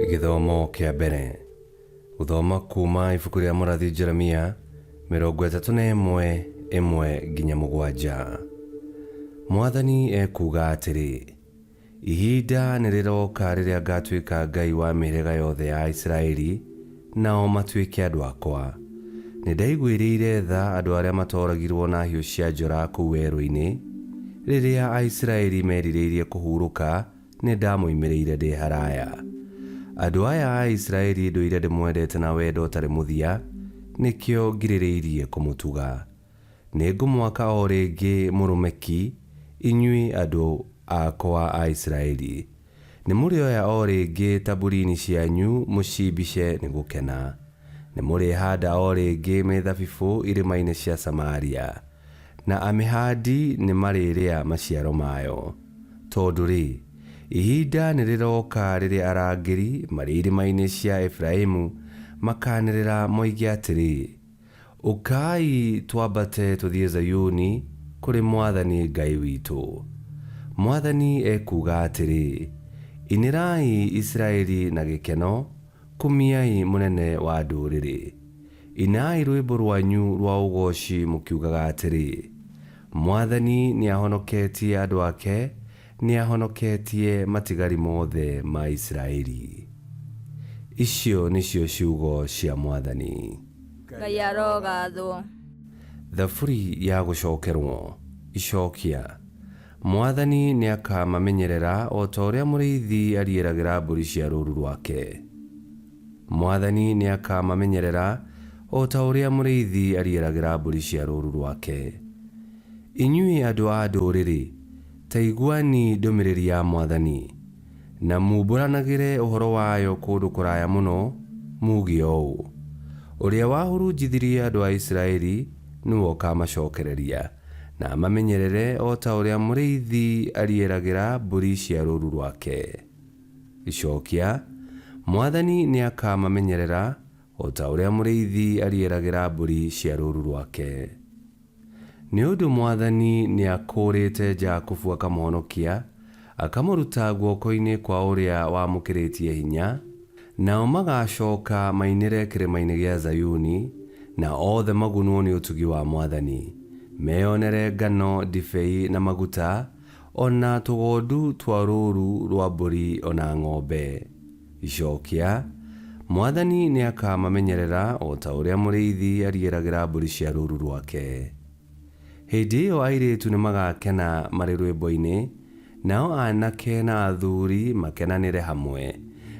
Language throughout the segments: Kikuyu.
Gĩthomo kĩa mbere. Gũthoma kuuma ibuku rĩa mũrathi Jeremia mĩrongo ĩtatũ na ĩmwe ĩmwe nginya mũgwanja. Mwathani ekuuga atĩrĩ, Ihinda nĩ rĩroka rĩrĩa ngaatuĩka Ngai wa mĩhĩrĩga yothe ya Isiraeli, nao matuĩke andũ akwa. Nĩ ndaiguĩrĩire tha andũ arĩa matooragirũo na hiũ cia njora kũu werũ-inĩ. Rĩrĩa Aisiraeli meerirĩirie kũhurũka, nĩ ndamoimĩrĩire ndĩ haraya. Andũ aya a Isiraeli ndũire ndĩmwendete na wendo ũtarĩ mũthia, nĩkĩo ngirĩrĩirie kũmũtuga. Nĩngũmwaka o rĩngĩ mũrũme ki, inyuĩ andũ akwa a Isiraeli. Nĩmũrĩoya o rĩngĩ taburiini cianyu mũciimbice nĩ gũkena. Nĩmũrĩhaanda o rĩngĩ mĩthabibũ irĩmainĩ cia Samaria, na amĩhaandi nĩmarĩrĩa maciaro mayo. Tondũ-rĩ, ihinda nĩrĩrooka rĩrĩa arangĩri marĩ irĩmainĩ cia Efiraimu makaanĩrĩra moige atĩrĩ, Ũkai twambate tũthiĩ Zayuni kũrĩ Mwathani Ngai witũ. Mwathani ekuuga atĩrĩ, Inĩrai Isiraeli na gĩkeno, kumiai Mũnene wa ndũrĩrĩ. Inai rwĩmbo rwanyu rwa ũgooci mũkiugaga atĩrĩ, Mwathani nĩahonoketie andũ ake, Nĩahonoketie matigari mothe ma Isiraeli. Icio nĩcio ciugo cia Mwathani. Ngai arogaathwo. Thaburi ya gũcookerwo. Icookia. Mwathani nĩakamamenyerera o ta ũrĩa mũrĩithi ariĩragĩra mbũri cia rũũru rwake. Mwathani nĩakamamenyerera o ta ũrĩa mũrĩithi ariĩragĩra mbũri cia rũũru rwake. Inyuĩ andũ a ndũũrĩrĩ, Ta iguani ndũmĩrĩri ya Mwathani, na mumbũranagĩre ũhoro wayo kũndũ kũraya mũno, muuge ũũ, Ũrĩa wahurunjithirie andũ a Isiraeli nĩ we ũkaamacookereria, na amamenyerere o ta ũrĩa mũrĩithi arieragĩra mbũri cia rũũru rwake. Gĩcookia, Mwathani nĩakaamamenyerera o ta ũrĩa mũrĩithi arieragĩra mbũri cia rũũru rwake. Nĩ ũndũ Mwathani nĩakũũrĩte Jakubu akamũhonokia, akamũruta guoko-inĩ kwa ũrĩa wamũkĩrĩtie hinya, nao magaacooka mainĩre kĩrĩma-inĩ gĩa Zayuni, na othe magunwo nĩ ũtugi wa Mwathani, meyonere ngano, ndibei, na maguta, o na tũgondu twa rũũru rwa mbũri o na ng'ombe. Icookia, Mwathani nĩakamamenyerera o ta ũrĩa mũrĩithi arigĩragĩra mbũri cia rũũru rwake. Hĩndĩ ĩyo airĩĩtu nĩmagakena marĩ rwĩmbo-inĩ, nao aanake na athuuri makenanĩre hamwe,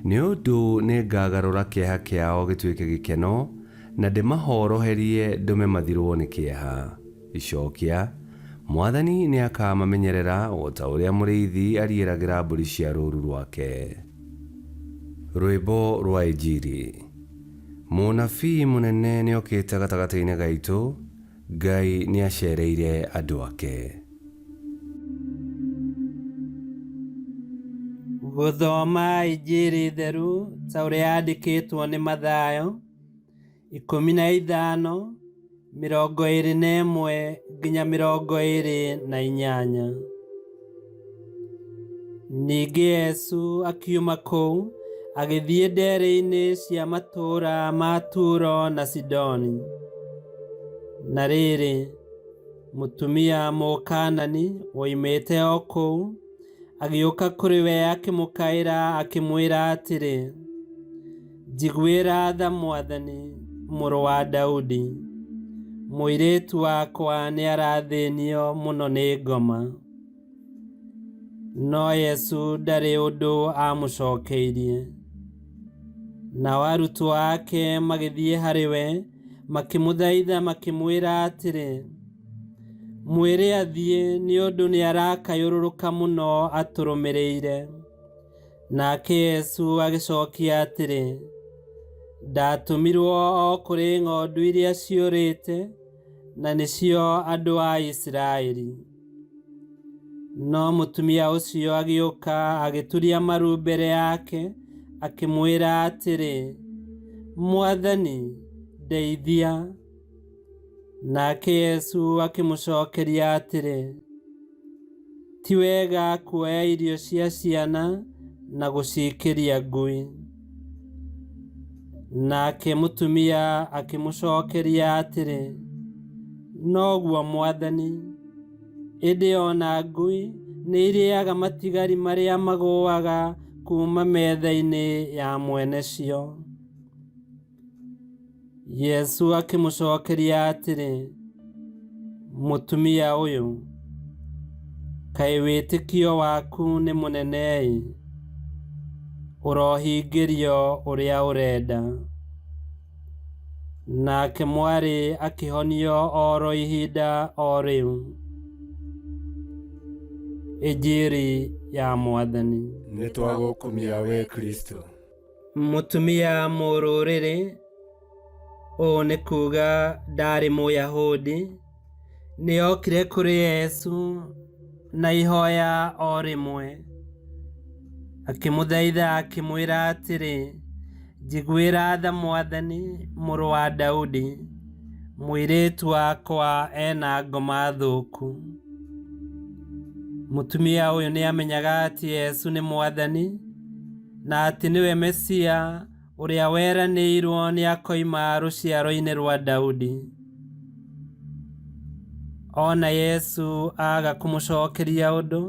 nĩ ũndũ nĩngagarũra kĩeha kĩao gĩtuĩke gĩkeno, na ndĩmahooroherie ndũme mathirwo nĩ kĩeha. Icookia, Mwathani nĩakaamamenyerera o ta ũrĩa mũrĩithi ariĩragĩra mbũri cia rũũru rwake. Rwĩmbo rwa Injiri. Mũnabii mũnene nĩokĩte gatagatĩ-inĩ gaitũ, Ngai nĩaceereire andũ ake. Gũthoma Injiri theru ta ũrĩa yandĩkĩtwo nĩ Mathayo. ikũmi na ithano mĩrongo ĩrĩ na ĩmwe nginya mĩrongo ĩrĩ na inyanya ningĩ yesu akiuma kũu agĩthiĩ ndere-inĩ cia matũũra ma turo na sidoni na rĩrĩ mũtumia mũkanani woimĩte o kũu agĩũka kũrĩ we akĩmũkaĩra akĩmwĩra atĩrĩ Njiguĩra tha mwathani, mũrũ wa Daudi. Mũirĩtu wakwa nĩarathĩnio mũno nĩ ngoma. No Yesu ndarĩ ũndũ amũcokeirie. Nao arutwo ake magĩthiĩ harĩ we, makĩmũthaitha makĩmwĩra atĩrĩ, Mwĩre athiĩ nĩ ũndũ nĩarakayũrũrũka mũno atũrũmĩrĩire. Nake Yesu agĩcookia atĩrĩ, Ndatũmirwo o kũrĩ ng'ondu iria ciũrĩte, na nĩcio andũ a Isiraeli. No mũtumia ũcio agĩũka agĩturia maru mbere yake, akĩmwĩra atĩrĩ, Mwathani, ndeithia. Nake Yesu akĩmũcookeria atĩrĩ, Ti wega kuoya irio cia ciana na gũciĩkĩria ngui. Nake mũtumia akĩmũcokeria atĩrĩ, Noguo mwathani, ĩndĩ o na ngui nĩ irĩaga matigari marĩa magũaga kuuma metha-inĩ ya mwene cio. yesu akĩmũcokeria atĩrĩ mũtumia ũyũ kaĩ wĩtĩkio waku nĩ mũnene-ĩ ũrohingĩrio ũrĩa ũrenda nake mwarĩ akĩhonio oro ihinda o rĩu injiri ya mwathani nĩ twagũkumia we kristo Mũtumia mũrũrĩrĩ, ũũ nĩ kuuga ndaarĩ Mũyahudi, nĩ okire kũrĩ Yesu na ihoya o rĩmwe. Akĩmũthaitha akĩmwĩra atĩrĩ, njiguĩra tha Mwathani, mũrũ wa Daudi, mũirĩtu wakwa ena ngoma thũku. Mũtumia ũyũ nĩ amenyaga atĩ Yesu nĩ Mwathani. na atĩ nĩwe Mesia ũrĩa weranĩirwo nĩ akoima rũciaro-inĩ rwa Daudi. Ona Yesu aga kũmũcokeria ũndũ,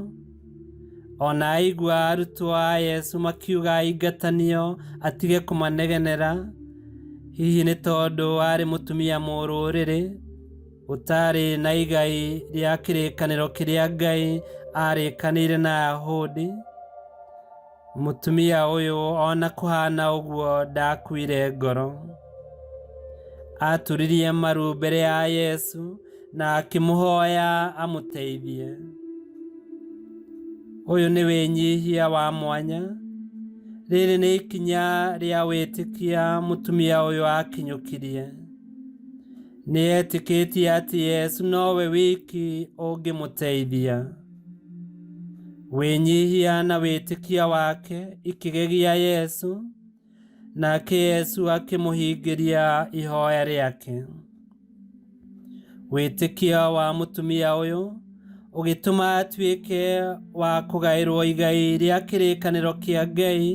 ona aigua arutwo a Yesu makiuga aingatanio atige kũmanegenera, hihi nĩ tondũ arĩ mũtumia mũrũrĩrĩ ũtarĩ na igai rĩa kĩrĩkanĩro kĩrĩa Ngai arĩkanĩire na Ayahudi. mũtumia ũyũ ona kũhana ũguo ndakuire ngoro aturirie maru mbere ya yesu na akĩmũhoya amũteithie ũyũ nĩ wĩnyihia wa mwanya rĩrĩ nĩ ikinya rĩa wĩtĩkia mũtumia ũyũ akinyũkirie nĩetĩkĩtie atĩ yesu nowe wiki ũngĩmũteithia Wĩnyihia na wĩtĩkia wake ikĩgegia Yesu, nake Yesu akĩmũhingĩria ihoya rĩake. Wĩtĩkia wa mũtumia ũyũ ũgĩtũma atuĩke wa kũgaĩrwo igai rĩa kĩrĩkanĩro kĩa Ngai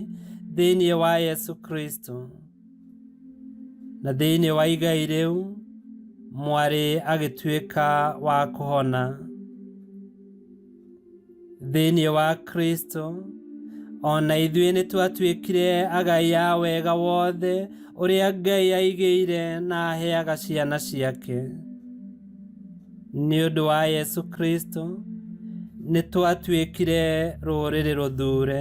thĩinĩ wa Yesu Kristo. na thĩinĩ wa igai rĩu mwarĩ agĩtuĩka wa kũhona thĩinĩ wa kristo o na ithuĩ nĩ twatuĩkire agai a wega wothe ũrĩa ngai aigĩire na aheaga ciana ciake nĩ ũndũ wa yesu kristo nĩ twatuĩkire rũrĩrĩ rũthure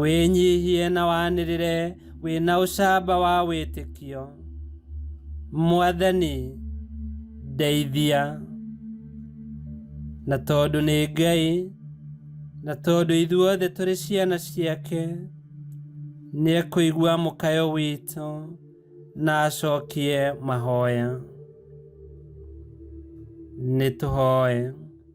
wĩnyihie na wanĩrĩre wĩna ũcamba wa wĩtĩkio mwathani ndeithia na tondũ nĩ ngai na tondũ ithuothe tũrĩ ciana ciake nĩ ekũigua mũkayo witũ na acokie mahoya nĩ tũhoe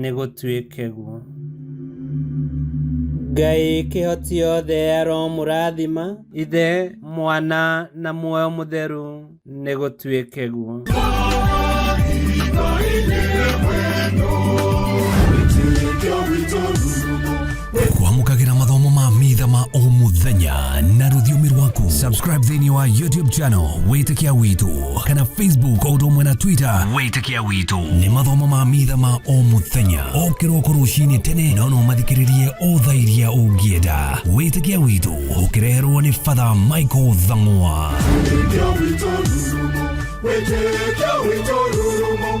nĩ gũtuĩke guo. Ngai kĩhoti yothe aromũrathima. Ithe, Mwana na muoyo mũtheru nĩ gũtuĩke guo. kwamũkagĩra mathomo ma mitha ma o mũthenya na rũthiomi rwaku subscribe thĩinĩ wa youtube channel wĩtĩkia witũ kana facebook o ũndũ ũmwe na twitter wĩtĩkia witũ nĩ mathomo ma mitha ma o mũthenya o kĩroko rũcinĩ tene no no mathikĩrĩrie o thaa iria ũngĩenda wĩtĩkia witũ ũkĩreherwo nĩ fatha michael thang'wa Wĩtĩkia witũ rurumo, wĩtĩkia witũ rurumo,